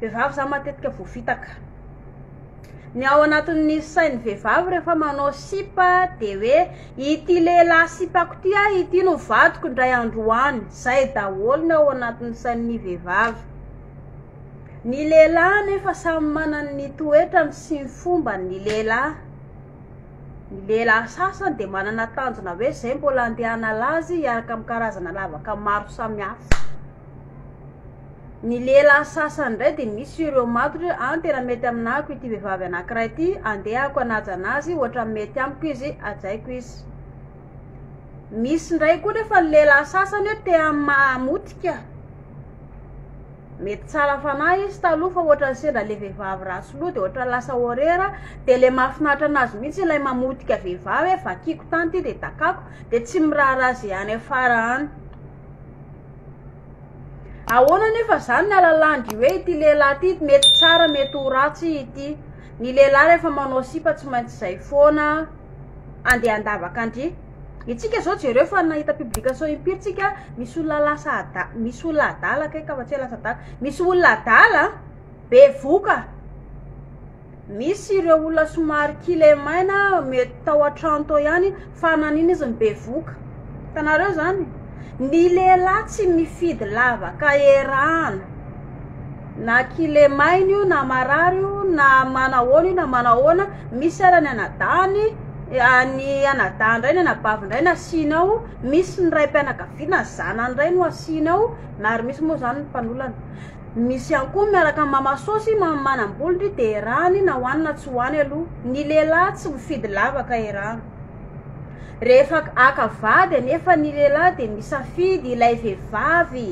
Vehivavy za matetika voafitaka. Ny ao anatin'ny sain'ny vehivavy rehefa manao sipa de hoe ity lehilahy sipako ty a ity no vadiko indray andro any. Zay daholo ny ao anatin'ny sain'ny vehivavy. Ny lehilahy anefa samy manana ny toetrany sy ny fombany ny lehilahy. Ny lehilahy sasany de manana tanjona hoe zay mbola andeha hanala azy hiaraka amin'ny karazana lavaka maro samihafa. Ny lehilahy sasany indray dia misy sur eo matotra hoe an tena mety aminahako ity vehivavy anankiray ity andehako hanaja anazy ohatran'ny mety amiko izy hajaiko izy misy indray koa nefa ny lehilahy sasany hoe te hamamotika mety tsara fanahy izy taloha fa ohatran'ny sendra le vehivavy ratsy loha dia ohatran'ny lasa horreur dia le mahafinaritra anazy mihitsy ilay mamotika vehivavy hoe vakiko tany ity dia dakako dia tsy miraharaha ze any afara any Ahoana anefa izany ny alalàn'dry hoe ity lehilahy ity mety tsara mety ho ratsy ity? Ny lehilahy rehefa manao sipa tsy maintsy izay foana andeha handavaka an-dry. Itsika izao jereo fa nahita publication impiry tsika misy olona lasa ada- misy olona adala kay ka fa tsy hoe lasa adala, misy olona adala bevoka. Misy ireo olona somary kilemaina mety tao an-trano tao ihany fa nanin izy no bevoka. Hitanareo izany? Ny lehilahy tsy mifidy lavaka erahana. Na kilemaina io na marary io na manahoana io na manahoana, misy ara ny anadahiny, ny anadahiny indray ny anabaviny indray no asiany ao, misy ny raim-pianakaviana ny zanany indray no asiany ao na ary misy moa izany ny mpanolana. Misy ihany koa ny miaraka amin'ny mama soa sy mama manam-bola ndry dia erany na ho any na tsy ho any aloha ny lehilahy tsy mifidy lavaka erany rehefa haka vady anefa ny lehilahy dia misafidy ilay vehivavy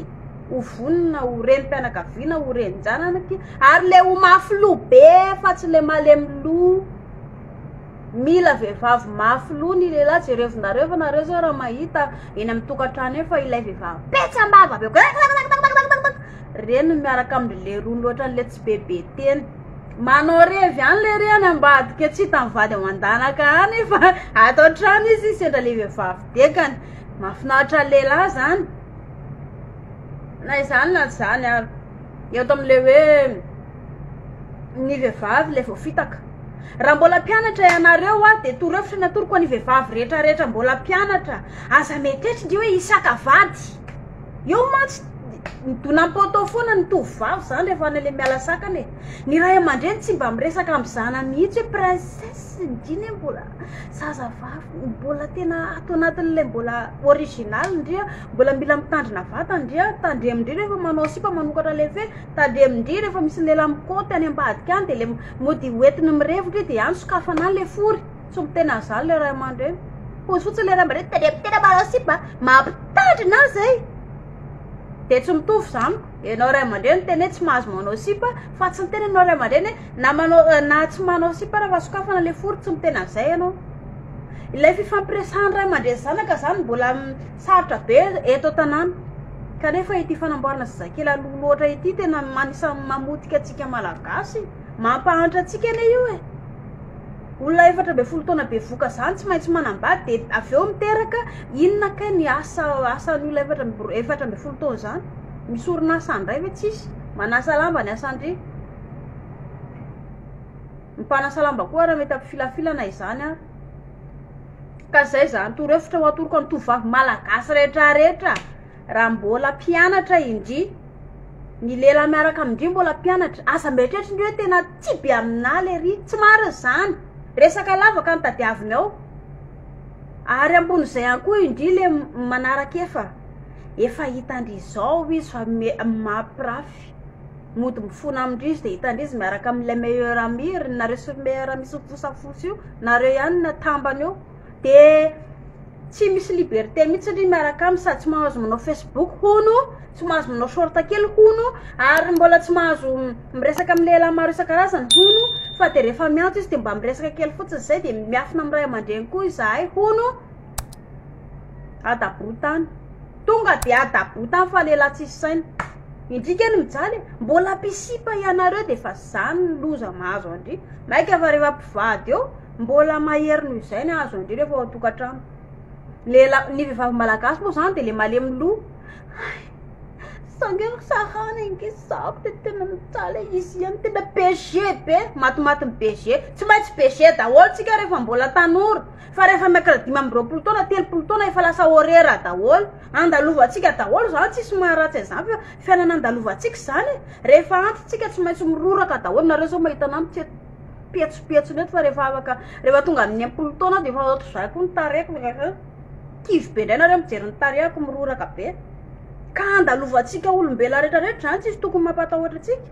ho vonona ho renim-pianakaviana ho renin-janany ary ilay ho mafy loha be fa tsy ilay malemy loha Mila vehivavy mafy loha ny lehilahy, jerevo nareo fa nareo zao raha mahita eny amin'ny tokantrano eny fa ilay vehivavy petsambava be koa reny no miaraka amindry lerony loatra an'le tsy be be teny manao revy any le re any ambadika tsy hitan'ny vady ao an-danaka any fa ato an-trano izy sendra le vehivavy dekany mahafinaritra ny lehilahy zany na izany na izany ary eo ato amin'le hoe ny vehivavy ilay vao fitaka raha mbola mpianatra ianareo aho de toro hevitra ny atoroko any vehivavy rehetra rehetra mbola mpianatra aza mieritreritra ndry hoe hisaka vady eo mantsy midona am poteau foana ny tovovavy zany rehefa any le miala sakana e ny ray aman-dreny tsy mba miresaka am zanany mihitsy hoe princesse ndry anie mbola zaza vavy mbola tena ato anatin'ilay mbola original ndry a mbola mila mitandrina vatana ndry a tandremo ndry rehefa manao sipa manokatra leve Tandremindry rehefa misy lehilahy mikaoty any ambadika any dia le mody hoentiny mirevotra io dia any sokafana any le fory. Tsy mbo tena zany le ray aman-dreny. Pozy fotsiny le ray aman-dreny tandremo tena manao sipa mampitandrina azy e. Dia tsy mitovy zany ko. Ianao ray aman-dreny tena hoe tsy mahazo manao sipa fa tsy ny tena ianao ray aman-dreny hoe na manao na tsy manao sipa rehefa sokafana le fory tsy mbo tena zay ianao. Ilay fifampiresahan'ny ray aman-dreny zanaka zany mbola Sarotra be eto an-tanàna. Kanefa ity fanamboarana zazakely aloha loatra ity tena anisan'ny mamotika antsika Malagasy. Mampahantra antsika anie io e! Olona efatra ambin'ny folo taona bevoka izany tsy maintsy manambady dia avy eo miteraka, inona kay ny asa asan'ny olona efatra amby efatra ambin'ny folo taona izany? Misy orinasa handray ve tsisy? Manasa lamba ny asan-dry. Ny mpanasa lamba koa raha mety hampifilafilana izany ary. Ka zay zany torohevitra ho atoroko an'ny tovovavy malagasy rehetra rehetra raha mbola mpianatra indry ny lehilahy miaraka amindry mbola mpianatra aza mieritreritra indry hoe tena tsy be aminah lery tsy marina zany resaka lavaka no tadiaviny ao ary ambon'izay ihany koa indry le manaraka efa efa hitandry izao izy fa mampirafy Mody mifona amindrizy de hitandrizy miaraka aminy le meilleur ami ry nareo sur meilleur ami sofosafosa io nareo ihany no atambany eo de tsy misy liberté mitsy ndry miaraka aminy sady tsy mahazo manao facebook hono tsy mahazo manao short kely hono ary mbola tsy mahazo miresaka amy lehilahy maro isan-karazany hono fa de refa miantso izy de mba miresaka kely fotsiny zay de miafina amy ray aman-dreny koa izahay hono Adabotany. Tonga dia adabotany fa lehilahy tsisy saina. Indrika anie mijaly e. Mbola mpisipa ianareo dia efa izany ny loza mahazo an-dry. Maika fa rehefa mpivady eo, mbola mahery noho izay ny hahazo an-dry rehefa ao an-tokantrano. Ny lehilahy, ny vehivavy malagasy moa izany dia ilay malemy loha. Hay, sa ange ry sarany ange zako dia tena mijaly e. Izy ihany tena BG be, matimatin'ny BG. Tsy maintsy BG daholo isika rehefa mbola tanora. Fa rehefa miakatra dimy amby roapolo taona, telopolo taona efa lasa horaire daholo. Andalovantsika daholo izany, tsisy maharatsy an'izany fa fiainana andalovantsika izany e. Rehefa antintsika tsy maintsy miroraka daholo, nareo zao mahita anah mitsena petsopetsony eto fa rehefa afaka, rehefa tonga amin'ny enimpolo taona aho de efa ohatry zah koa ny tarehiko ehe, kivy be indray nareo mijery ny tarehiko miroraka be. Ka andalovantsika olombelona retraretra izany, tsisy tokony mampatahotra antsika.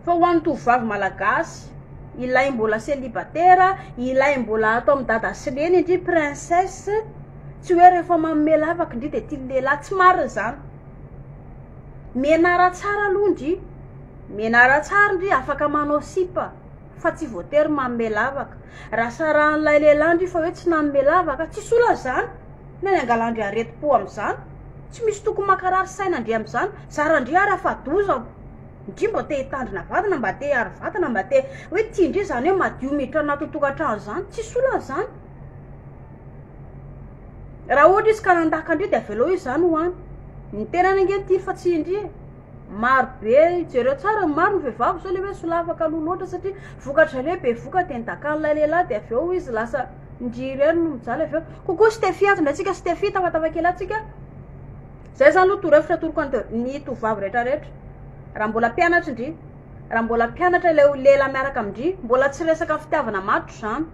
Fa ho an'ny tovovavy malagasy, ilay mbola célibataire, ilay mbola ato amin'i dada sy neny ndry princesse, tsy hoe rehefa manome lavaka ndry dia tian'ny lehilahy, tsy marina izany, menara tsara aloha ndry, menara tsara ndry afaka manao sipa fa tsy voatery manome lavaka, raha sarahan'ilay lehilahy ndry fa hoe tsy nanome lavaka, tsisy olana izany, inona ny angalandry aretim-po amin'izany, tsy misy tokony mankarary saina ndry amin'izany, zara ndry ary afa-doza. Ndrii mba te hitandrina vatana mba te hiaro vatana mba te hoe tia ndrii zany hoe madio miditra anatin'ny tokantrano zany tsisy olana zany raha ohatra izy ka nandaka ndrii de avelao izy zany ho any ny tenany ange tiry fa tsy indri e maro be jereo tsara maro ny vehivavy zao le hoe solafaka aloha loatra satria vokatra le be voka de nidakan'ilay lehilahy de avy eo izy lasa ndrii irery no mijaly avy eo kokoa stefia aza ndray tsika stefia tafatafakely atsika Zay zany no torohevitra atoroko an ny tovovavy rehetra rehetra raha mbola mpianatry ndry raha mbola mpianatra ilay ho lehilahy miaraka amindry mbola tsy resaka fitiavana maty zany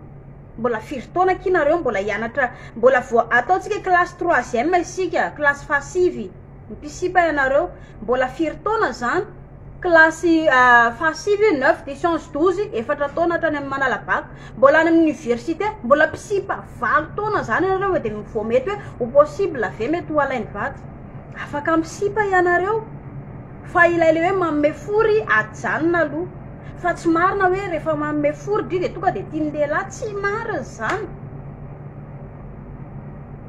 mbola firy taona akia nareo mbola hianatra mbola vao ataontsika classe troisième isika classe fahasivy mipisipa ianareo mbola firy taona zany Kilasy fahasivy hoe neuf de science douze, efatra taona hatrany amin'ny manala bac, mbola any amin'ny université, mbola mpisipa valo taona zany ianareo e, de vao mety hoe ho possible ve mety ho alainy vady? Afaka misipa ianareo fa ilay le hoe manome fory ajanona aloha, fa tsy marina hoe rehefa manome fory dry de tonga de tian'ny lehilahy, tsy marina zany.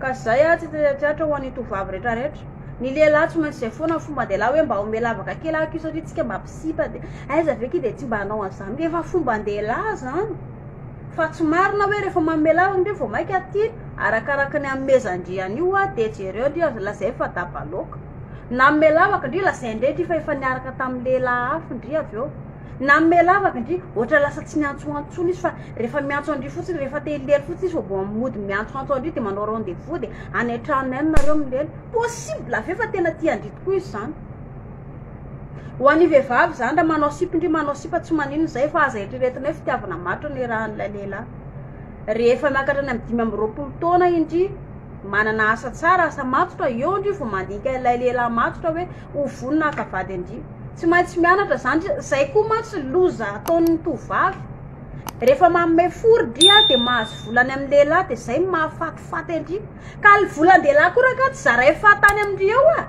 Ka izay ary tsy tetrateatra ho an'ny tovovavy rehetra rehetra. Ny lehilahy tsy maintsy izay foana ny fomban-dehilahy hoe mba omeo lavaka kely aky io satria tsika mba mpisipa dia aiza ve ky dia tsy mba hanao an'izany ka efa fomban-dehilahy izany fa tsy marina hoe rehefa manome lavaka indray vao mainka tia arakaraka ny hanomezan-dry an'io aho dia jereo ndry aza lazainy fa daba loaka nanome lavaka ndry lazainy indray ndry fa efa niaraka tamin'ny lehilahy hafa ndry avy eo Nanome lavaka ndry, ohatra lasa tsy miantsoantso tsony izy fa rehefa miantso an-dry fotsiny rehefa te hilely fotsiny izy fa vao mody miantsoantso an-dry de manao rendez vous de any an-tranony any nareo milely, possible ve fa tena tia an-dry tokoa izy zany? Ho an'ny vehivavy zany raha manao sipa ndry manao sipa tsy maninona zay fa aza eritreretina hoe fitiavana maty no nirahan'ilay lehilahy, rehefa miakatra any amin'ny dimy amby roapolo taona indry manana asa tsara asa matotra eo ndry vao mandinika ilay lehilahy matotra hoe ho vonona haka vady andriana tsy maintsy mianatra zany zay koa mantsy loza ataon'ny tovovavy rehefa manome fo ry dia de mahazo volany amin'ny lehilahy de zay mahafatifaty andry ka ny volan-dehilahy koa raha ka tsy zaray fahatany amindry eo a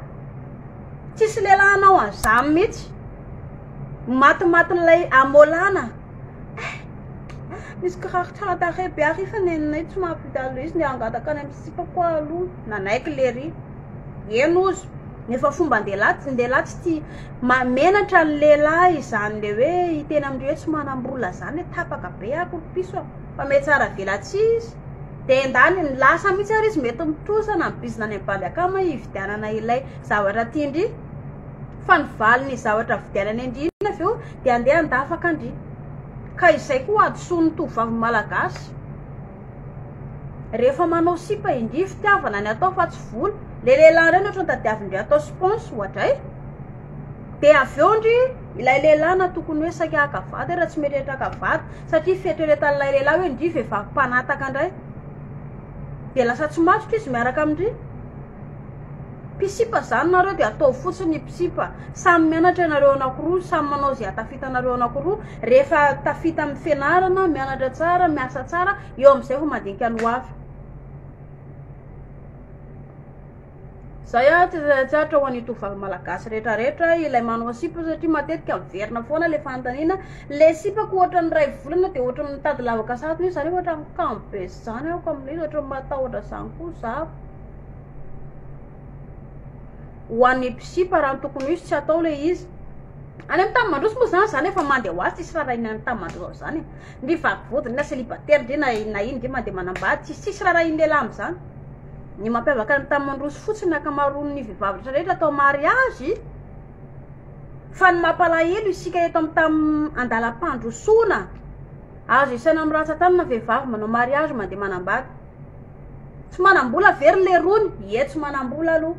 tsisy lehilahy hanao an'izany mihitsy matimatin'ilay amolana eh, misy kiraro tsara tarehy be ary fa nenay tsy mahavita loha izy ny hangataka any amin'ny sipako aloha nanaiky lery eny ozy Efa fomban-dehilahy tsy dehilahy tsy tia ma- menatra ny lehilahy izany le hoe hiteny amin'ireo hoe tsy manam-bola izany hoe tapaka be ah koropiso ah fa mety tsara velatsihy izy dia endany ny lasa mihitsy ary izy mety mitrosa na ny bizina any amin'ny bandy akama hividianana ilay zavatra tian-dry fa ny valiny zavatra vidianana an-dry iny avy eo dia andeha handafaka an-dry ka izay koa hadisoan'ny tovovavy malagasy Rehefa manao sipa indry fitiavana ny atao fa tsy vola, le lehilahy ireny ohatrany tadiavindry atao spons ohatra e! de avy eo ndry ilay lehilahy na tokony hoe saika haka vady ary tsy mieritreritra haka vady satria fieritreretan'ilay lehilahy hoe ndry vehivavy mpanataka ndray de lasa tsy matotra izy miaraka amindry Mpisipa zany nareo de ataovy fotsiny ny mpisipa samy mianatra ianareo anakiroa samy manao ze atafitanareo anakiroa rehefa tafita am fianarana mianatra tsara miasa tsara eo amizay vao mandinika ny hoavy zay a tsy tsatra ho an'ny tovovavy malagasy rehetra rehetra ilay manao sipa satria matetika miverina foana le fanontaniana le sipako ohatran'ny iray volana de ohatran'ny mitady lavaka satroka izy zany ohatran'ny kamo be zany aho ko amin'ilay izy ohatran'ny matahotra zany koa za Ho an'ny mpisipa raha ny tokony ho izy tsy atao ilay izy. Any amin'ny tany mandroso moa zany zany efa mandeha ho azy tsisy raha rahina any tany mandroso zany. Ndry vavody na célibataire ndry na na ino ndry mandeha manambady tsisy tsisy raha rahin'ny lehilahy amin'izany. Ny mampiavaka any tany mandroso fotsiny ankamaroan'ny vehivavy rehetra rehetra atao mariazy fa ny mampalahelo isika eto amin'ny tany andalam-pandrosoana azo isaina amin'ny rantsan-tanana vehivavy manao mariazy mandeha manambady. Tsy manambola ve ry lerony? Ie tsy manambola aloha.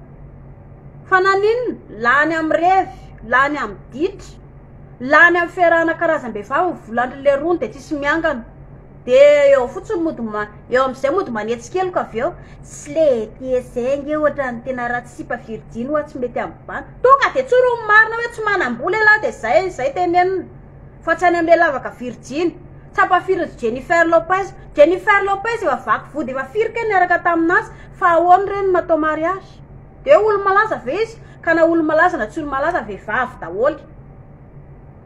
Fa naninona? Lany amin'ny revy, lany amin'ny ditra, lany amin'ny fiarahana karazam-behivavy ny volan-dry lerony dia tsisy miangana. Dia eo fotsiny mody ma- eo amin'izay mody manetsy keloka avy eo. Tsy le ety zay ange ohatra ny tena ratsy sipa virjiny hoa tsy mety amin'ny bandy. Tonga dia tsory ny marina hoe tsy manambola ialahy dia zay, zay tenenina fa tsy any amin'ilay lavaka virjiny. Tsapa firy ry Jennifer Lopez? Jennifer Lopez efa vaky vody efa firy kay niaraka tamin'azy fa ahoana re no natao mariage? De hoe olo-malaza ve izy? Ka na olo-malaza na tsy olo-malaza vehivavy daholo.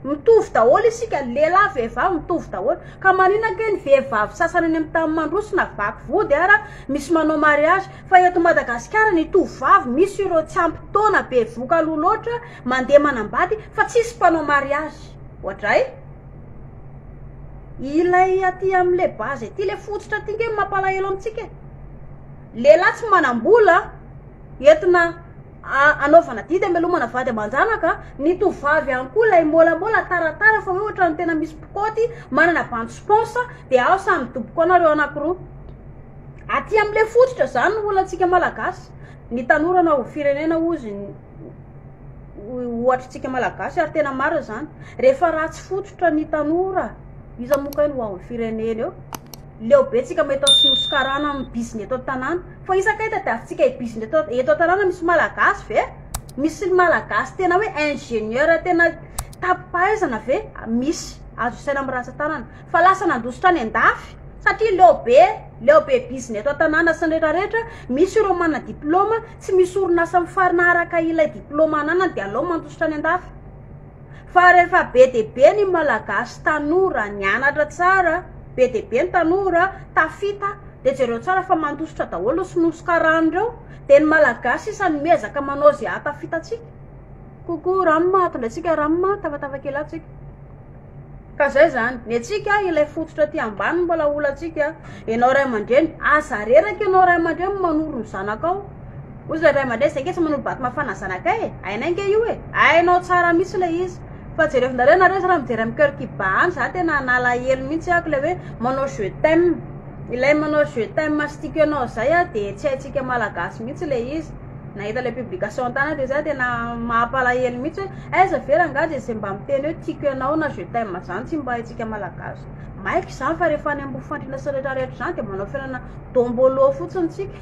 Mitovy daholo isika, lehilahy vehivavy mitovy daholo. Ka maninona kay ny vehivavy sasany any amin'ny tany mandroso na vaky vody ara misy manao mariage fa eto Madagasikara ny tovovavy misy ireo tsy ampy taona bevoka aloha loatra mandeha manambady fa tsisy mpanao mariage. Oadray. Ilay aty amle base aty le fototra aty nge mampalahelo amintsika e lehilahy tsy manam-bola entina anaovana didy amelomana vady aman-janaka ny tovovavy ihany koa ilay môlamôla taratara fa hoe ohatran'ny tena misy mpikaoty manana bandy spaonsa de ao samy midoboka ao nareo anakiroa aty amle fototra zany ny olantsika malagasy ny tanora na ho firenena ozy ohatrintsika malagasy ary tena marina zany rehefa ratsy fototra ny tanora iza moa kay no ho ao amin'ny firenena eo leo be tsika mahita sinoa sy karana amin'ny bizina eto an-tanàna fa iza kay tadiavintsika hibizina eto eto an-tanàna misy malagasy ve misy ny malagasy tena hoe ingénieur tena tapi-pahaizana ve misy azo isaina amin'ny ratsan-tanana Fa lasa nandositra any an-dafy satria leo be leo be bizina eto an-tanàna sy ny rehetra rehetra, misy ireo manana diplaoma, tsy misy orinasa mifarina araka ilay diplaoma ananany dia aleo mandositra any an-dafy. Fa rehefa be dia be ny Malagasy tanora nianatra tsara, be dia be ny tanora tafita dia jereo tsara fa mandositra daholo sy nosokarany ireo dia ny Malagasy sisa no miezaka manao izay hahatafita antsika. Coucou Rama, tondratsika Rama, tafatava kely ato tsika. Ka zay zany, ny antsika ilay fototra aty ambany mbola olantsika, enao ray aman-dreny aza reraka enao ray aman-dreny manoro ny zanakao, ozy le ray aman-dreny zay nge tsy manoro bato mafana zanakay e, hainay nge io e, hainao tsara mitsy le izy, fa jerevonareo nareo zany raha mijery am coeur qui bat any za tena nalahelo mitsy ako le hoe manao je t'aime, ilay manao je t'aime sticker-nao zay a de tsy haintsika malagasy mitsy le izy. nahita ilay publication tana dia za tena mahapalahelo mihitsy hoe aiza ve rangaha dia izay mba miteny hoe tiako ianao na je t'aime zany tsy mba haintsika malagasy maika izany fa rehefa any ambofandriana sy rehetra rehetra izany dia manao fiainana dombolo fotsiny tsika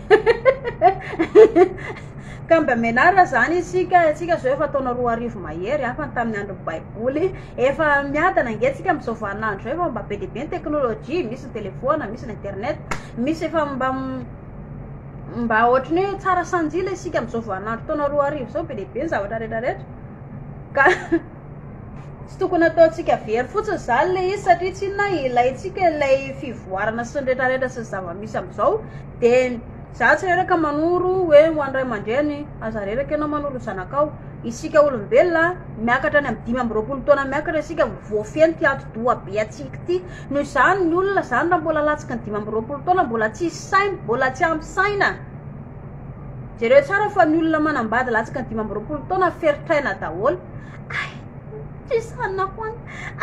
ka mba menara zany isika tsika zao efa taona roa arivo mahery hafa ny tamin'ny andro baiboly efa miadana ngetsika amin'izao vaninandro zao efa mba be dia be ny teknolojia misy ny telefoana misy ny internet misy efa mba Mba ohatry ny hoe tsara sanjila isika amin'izao vaninandro taona roa arivo izao, be dia be ny zavatra rehetra rehetra. Ka tsy tokony ataontsika very fotsiny izany ilay izy satria tsy inona ilaintsika ilay fivoarana sy ny rehetra rehetra sy ny zava-misy amin'izao. Dia za tsy reraka manoro hoe ho an'ny ray aman-dreny, aza reraka ianao manoro zanakao. Isika olombelona miakatra any amin'ny dimy amby roapolo taona miakatra isika vao feno ity ati-doha be antsika ity. Noho izany, ny olona izany raha mbola latsaka ny dimy amby roapolo taona, mbola tsisy saina, mbola tsy ampy saina. Jereo tsara fa ny olona manambady latsaka ny dimy amby roapolo taona ferotraina daholo. Ay, tsisy saina hoan.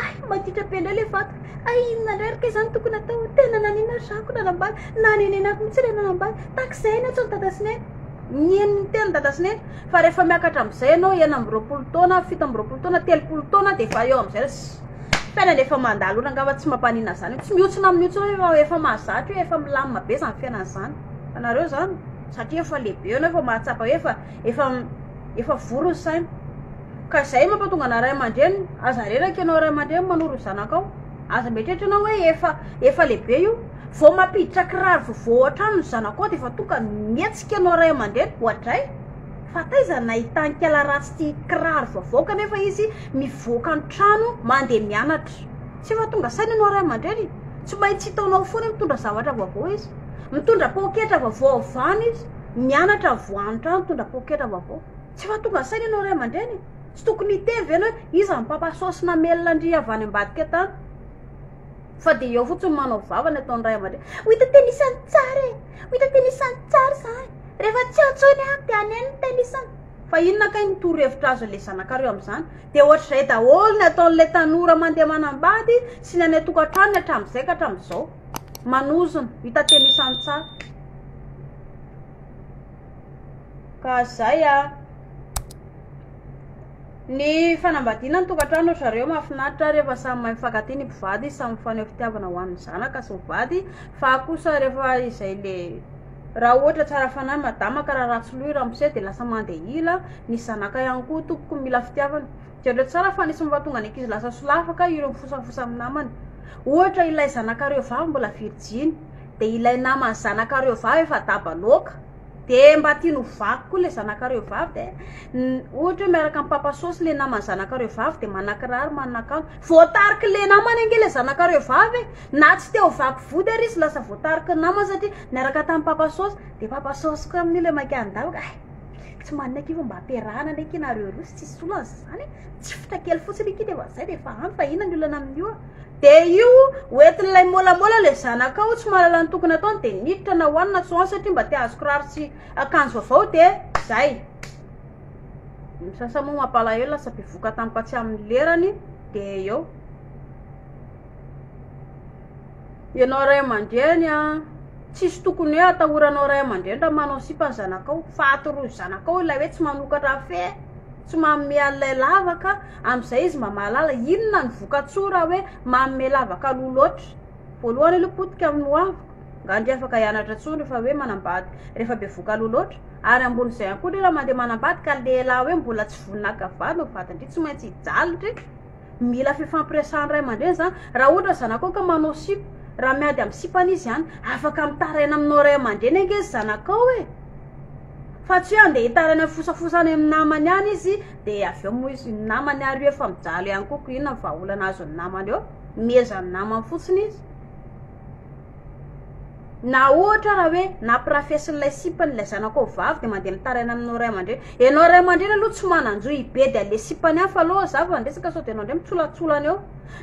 Ay, maditra be indray le vatako. Ay, inona indray ary kay izany tokony atao? Tena nanina ary zako nanambady, nanenenako mihitsy ilay nanambady. Tahaka izay ny antso dada sy neny. Nihaino ny tenin'i dada sy neny. Fa rehefa miakatra amin'izay ianao enina amby roapolo taona, fito amby roapolo taona, telopolo taona dia efa eo amin'izay. Fiainana efa mandalo ora angamba tsy mampaninona zany tsy mihotsina amin'io tsony fa efa mahazatra io efa milamina be zany fiainana zany fa nareo zany satria efa lehibe enao efa mahatsapa hoe efa efa efa vory ny saina ka zay mampatonga ana ray aman-dreny aza reraka enao ray aman-dreny manoro zanakao aza mieritreritra enao hoe efa efa lehibe io vao mampiditra kiraro vovò hatrany ny zanakao de efa tonga mihetsika enao ray aman-dreny oadray Fa taiza nahitan-kela ratsy ity kiraro vaovao kanefa izy mivoaka ny trano mandeha mianatra? Tsy efa tonga saina ianao ray aman-dreny? Tsy maintsy hitaonao foana mitondra zavatra vaovao izy. Mitondra poketra vaovao avy any izy, mianatra vao any trano mitondra poketra vaovao. Tsy efa tonga saina ianao ray aman-dreny? Tsy tokony hiteny ve ianao hoe iza no mpapa-saosy namelona an-dry avy any ambadika tany? Fa dia eo fotsiny manao vava ny ataon'ny ray aman-dreny. Ho hita teny isan'ny tsara e! Ho hita teny isan'ny tsara izany. Rehefa tsy eo intsony aho dia haneno ny teny isan'ny. Fa inona kay ny torohevitra azon'ilay zanakareo amin'izany? Dia ohatr'izay daholo ny ataon'ilay tanora mandeha manambady sy ny any an-tokantranony hatramin'izay ka hatramin'izao. Manozona, ho hita teny isan'ny tsara. Ka izay an! Ny fanambadiana ny tokantrano ry zareo mahafinaritra rehefa samy mahay mifankatia ny mpivady samy mifaneho fitiavana ho an'ny zanaka sy ny vady fa kosa rehefa izay le raha ohatra tsara fanahy madama ka raha ratsy loha i ramose dia lasa mandeha ila ny zanaka ihany koa tompoko mila fitiavana jereo tsara fa nisy mahatonga ny ankizy lasa solafaka ka ireo mifosafosa amin'ny namany ohatra ilay zanakareo vavy mbola virjiny dia ilay naman'ny zanakareo vavy efa daba loaka De mba tiany ho vaky koa le zanakareo vavy de ohatra hoe miaraka amin'ny papa sosy le naman'ny zanakareo vavy de manakiraro manakanto voatariky le namany ange le zanakareo vavy e na tsy te ho vaky vody ary izy lasa voatariky ny namany satria miaraka tamin'ny papa sosy de papa sosy koa amin'io le maika handalo ka eh tsy manina akia fa mba ampiarahana anie akia nareo roa sy tsisy olana zany e tsifotra kely fotsiny akia de efa zay de efa ampy fa inona ny olana amin'io a De io hoentin'ilay môlamôla le zanakao tsy mahalala ny tokony ataony de miditra na hoany na tsy hoany satria mba te hahazo kiraro sy akanjo vaovao de zay. Ny misasa moa mampalahelo lasa bevoka tampoka tsy amin'ny lerany de eo. Ianao ray aman-dreny a, tsisy tokony hoe atahoranao ray aman-dreny raha manao sipa ny zanakao, faty roa zanakao ilay hoe tsy manokatra fe. tsy manome an'ilay lavaka, amin'izay izy mba mahalala inona no vokatsoa raha hoe manome lavaka loha loatra. Voalohany aloha potika amin'ny ho aviko, angaha dia afaka hianatra intsony rehefa hoe manambady rehefa bevoka loha loatra, ary ambonin'izay ihany koa indrindra mandeha manambady ka lehilahy hoe mbola tsy vonona haka vady, ny vadin-dry tsy maintsy hijaly ndry. Mila fifampiresahan'ny ray aman-dreny izany. Raha ohatra ny zanakao ka manao sipa, raha miady amin'ny sipany izy any, afaka mitaraina aminao ray aman-dreny ange ny zanakao e! Fa tsy hoe andeha hitaraina amin'ny fosafosa any amin'ny namany any izy, dia avy eo moa izy ny namany ary io efa mijaly ihany koa, koa inona ny vahaolana azon'ny namany eo? Miezaha ny namany fotsiny izy. Na ohatra ara hoe nampirafesin'ilay sipany ilay zanako vavy dia mandeha mitaraina aminao ray aman-dreny. Ianao ray aman-dreny aloha tsy manan-jo hibedy an'ilay sipany hafa aloha za vao handresaka sao dia ianao indray mitsolatsolana eo.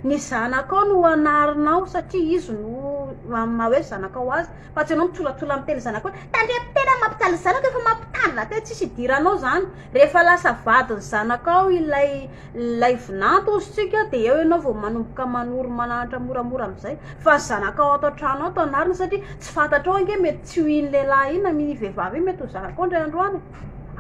Ny zanakao no hanarinao satria izy no amin'ny maha hoe zanakao azy fa tsy ianao mitsolatsola miteny zanakao hoe tandremo tena ny mampijaly zanako efa mampitandrina tena tsisy idiranao izany. Rehefa lasa vadin'ny zanakao ilay. Ilay vinanto hozy tsika dia eo ianao vao manomboka manoro manahantra moramora amin'izay fa ny zanakao ato an-trano ato anarina satria tsy fantatrao ange mety tsy ho iny lehilahy iny na iny vehivavy iny mety ho zanakao indray andro any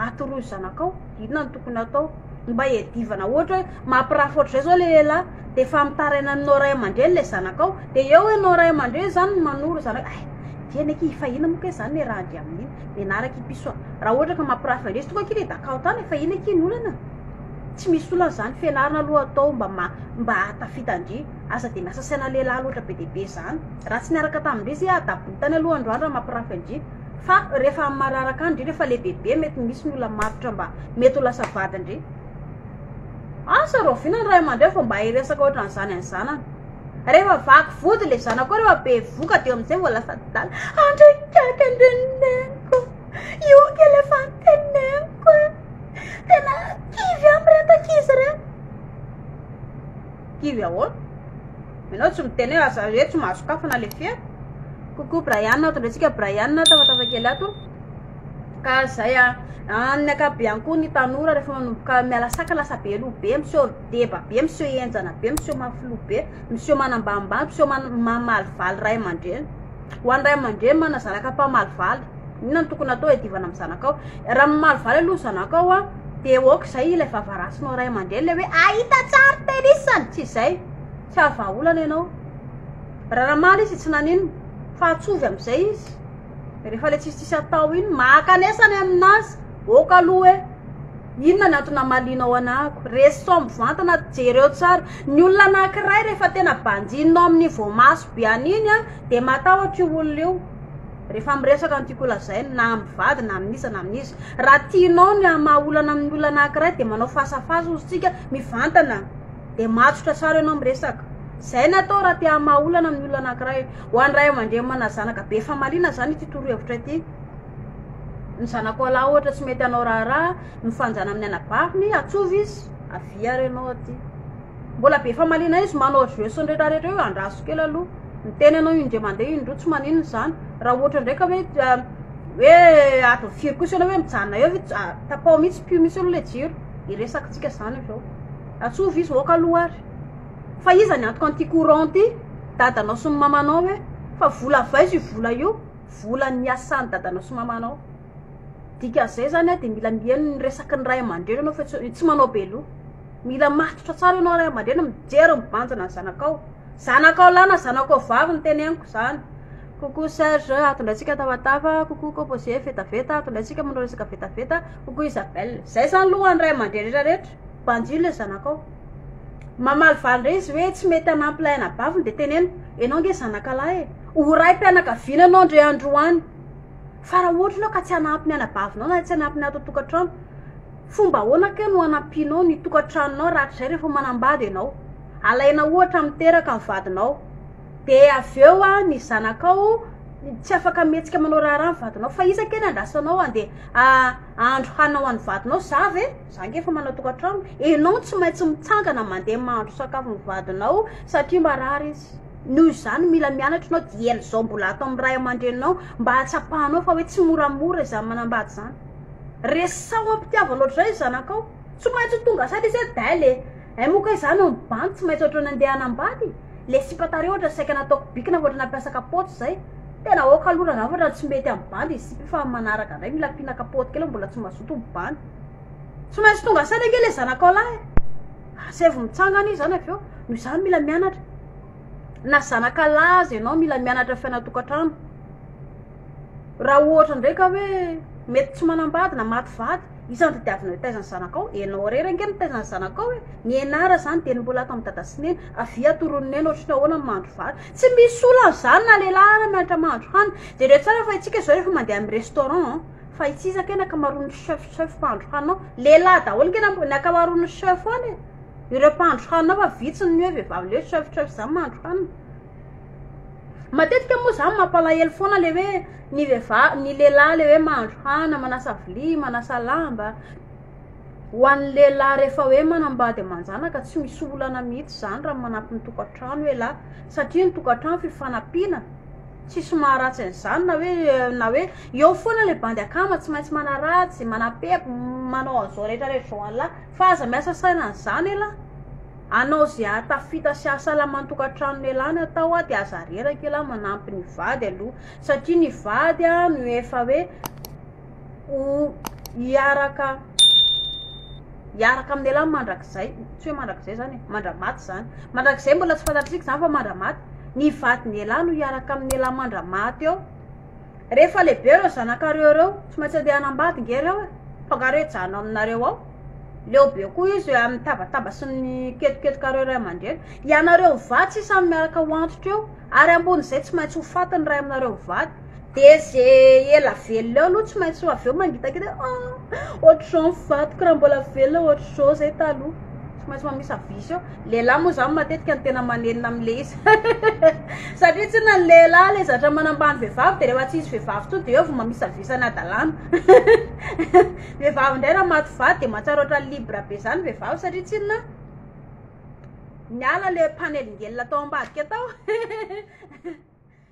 atoroy ny zanakao inona no tokony atao mba hiadivana ohatra hoe mampirafy ohatr'izay zao le lehilahy de efa mitaraina aminao ray aman-dreny le zanakao de eo ianao ray aman-dreny zany manoro zanaka ay dieny aky fa ina moa kay zany le raha andry amin'iny menaraka i piso raha ohatra ka mampirafy andresy tokoa aky le dakao tany fa ina aky ny olana Tsy misy olana izany fianarana aloha atao mba mba hahatafita ndry aza dia miasa saina lehilahy loatra be dia be izany raha tsy niaraka tamin-dry izy adabony tany aloha androany raha mampirafy an-dry fa rehefa amin'ny mararaka any ndry rehefa lehibebe mety misy ny olona matotra mba mety ho lasa vadin-dry asa rahoviana ny ray aman-dreny vao mba hiresaka ohatran'izany any zanany rehefa vaky vody le zanako rehefa be voka dia amin'izay vao lasa adala andray kaiky andreniko Ioky efa niteneniko e. Tena kivy aho mireto ankizy reto. Kivy ahoana? Ianao tsy miteny aza hoe tsy mahasokafana le fiera. Coucou Brian, tondratsika Brian tafatafa kely ato. Ka zay a, amin'ny akabiany koa ny tanora rehefa manomboka miala saka lasa be loha be, miseho deba be, miseho enjana be, miseho mafy loha be, miseho manambanimbany, miseho mamalivaly ray aman-dreny. Ho an'ny ray aman-dreny manana zanaka mpamaly valy, inona no tokony atao hiadivana amin'ny zanakao? Raha mamaly valy aloha ny zanakao an, dia aoka izay ilay vava rasinao ray aman-dreny ilay hoe ahita tsara tenisany, tsy izay? Tsy haha vahaolana ianao. Raha namaly izy tsy nanino, fa atsovy amin'izay izy. Rehefa ilay tsisitsisy atao iny, maka an'esa ny amin'azy, aoka aloha hoe. Inona ny antony hamalianao anako? Reso mivantana, jereo tsara. Ny olona anankiray rehefa tena banjininao amin'ny voamaso be an'iny an, dia matahotra io olona io rehefa miresaka ny tiako holazaina, na amin'ny vady na amin'iza na amin'iza. Raha tianao ny hamaha olana amin'ny olona anankiray dia manao face à face hozy tsika, mivantana, dia matotra tsara ianao miresaka. Izay ny atao raha te hamaha olana amin'ny olona anankiray. Ho an'ny ray aman-dreny manana zanaka be famaliana izany ity torohevitra ity. Ny zanako lahy ohatra tsy mety hanao raharaha mifanjana amin'ny anabaviny, atsova izy, avia ary ianao aty. Mbola be famaliana izy manao jeux sy ny rehetra rehetra io, andraso kely aloha. Miteny ianao indray mandeha indroa tsy maninona izany. Raha ohatra indray ka hoe hoe adiny firy kosa ianao hoe mijanona eo ve tapaho mihitsy pio mihitsy aloha ilay jiro, hiresakantsika izany avy eo. Atsova izy aoka aloha ary. Fa iza ny antoka an'ity courant ity? Dadanao sy ny mamanao ve? Fa vola avy aiza io vola io? volan'ny niasan'ny dadanao sy mamanao. Dikan'izay zany dia mila mihaino ny resaky ny ray aman-dreny ianao fa tsy manao be loha. Mila matotra tsara ianao ray aman-dreny, mijery mibanjina ny zanakao. Zanakao lahy na zanakao vavy no teneniko izany. Coucou Serge, atondratsika tafatava, coucou Composé, vetaveta, atondratsika manao resaka vetaveta, coucou Isabelle. Izay zany loha ho an'ny ray aman-dreny rehetra rehetra, banjio ilay zanakao. Mamaly valy indray izy hoe tsy mety hanampy lahy anabaviny dia teneno, ianao ange zanaka lahy e. Ho raim-pianakaviana anao ndry androany fa raha ohatra ianao ka tsy hanampy ny anabavinao na tsy hanampy ny ato an-tokantrano, fomba ahoana kay no hanampianao ny tokantranonao rahatrizay rehefa manambady ianao? Alaina ohatra amin'ny teraka ny vadinao dia avy eo ny zanakao tsy afaka mihetsika manao raharaha ny vadinao fa iza kay no andrasanao handeha hahandro hanina ho an'ny vadinao? Za ve? Za ange efa manana tokantrano. Ianao no tsy maintsy mitsangana mandeha mahandro sakafo ny vadinao satria marary izy. Noho izany, mila mianatra ianao dieny izao mbola ato amin'ny ray aman-dreninao mba hahatsapanao fa hoe tsy moramora izany manambady izany. Resaho am-pitiavana ohatr'izay ny zanakao. Tsy maintsy ho tonga saina izy hoe Dahil e! Hay moa kay izany hono Ban tsy maintsy ohatrany handeha hanambady? Ilay sipa tary ohatra saika nataoko bikina fa ohatrany nampiasa kapaoty izay. Tena aoka aloha rangahy fa raha tsy mety amin'ny bandy ny sipa io fa amin'ny manaraka indray mila ampiana kapaoty kely fa mbola tsy mazoto ny bandy. Tsy maintsy tonga saina ange ilay zanakao lahy e! Asaivo mitsangana izy zany avy eo, noho izany mila mianatra. Na zanaka lahy aza ianao mila mianatra fiainantokantrano. Raha ohatra indray ka hoe mety tsy manambady na maty vady, iza no tadiavina hitaiza ny zanakao? Ianao irery ange no mitaiza ny zanakao e! Nianara izany dia mbola ato amin'i dada sy neny, avia atoro ny neny ohatry ny ahoana ny mahandro vary. Tsy misy olana izany na lehilahy ary mianatra mahandro hanina. Jereo tsara fa isika izao rehefa mandeha amin'ny restaurant an! Fa itsy iza kay ny akamaroan'ny chef chef mpahandro hanina ao? Lehilahy daholo kay ny am- ny akamaroan'ny chef any e! Ireo mpahandro hanina ao fa vitsy ny hoe vehivavy le hoe chef chef zany mahandro hanina. Matetika moa za mampalahelo foana le hoe ny vehivavy ny lehilahy le hoe mahandro hanina, manasa vilia, manasa lamba. Ho an'ny lehilahy rehefa hoe manambady aman-janaka tsy misy olana mihitsy zany raha manampy ny tokantrano ialahy satria ny tokantrano fifanampiana. Tsisy maharatsy an'izany na hoe na hoe eo foana ilay bandy akama tsy maintsy manaratsy, manapepy, manao an'izao rehetra rehetra izao anlah fa aza miasa saina an'izany elah. Anao izay hahatafita sy hahasalama ny tokantranony elah ny atao dia aza reraka elah manampy ny vady aloha satria ny vady no efa hoe ho hiaraka hiaraka amin'ialahy mandrakizay tsy hoe mandrakizay zany e mandramaty zany mandrakizay mbola tsy fantatsika zany fa mandramaty ny vadin'ialahy no hiaraka amin'ialahy mandramaty eo rehefa lehibe ireo zanakareo ireo tsy maintsy andeha hanambady nge reo e tonga reo hijanona aminareo ao leo be koa izy hoe amin'ny tabataba sy ny ketoketokareo ray aman-dreny ianareo vady sisa miaraka ho antitra eo ary ambonin'izay tsy maintsy ho faty ny ray aminareo vady Dia izay ela velona eo aloha tsy maintsy ho avy eo mangitakita hoe ah! ohatr'izao ny vadiko raha mbola velona ohatr'izao izay taloha. Tsy maintsy mamisa vice eo. Lehilahy moa izany matetika no tena manenina amin'ilay izy. Satria tsinona ny lehilahy ilay zatra manambany vehivavy dia rehefa tsy hisy vehivavy intsony dia eo vao mamisa vice any an-dalàna. Vehivavy indray raha maty vady dia mahatsiaro ohatran'ny libre be izany vehivavy satria tsinona niala ilay mpanelingelina tao ambadika tao.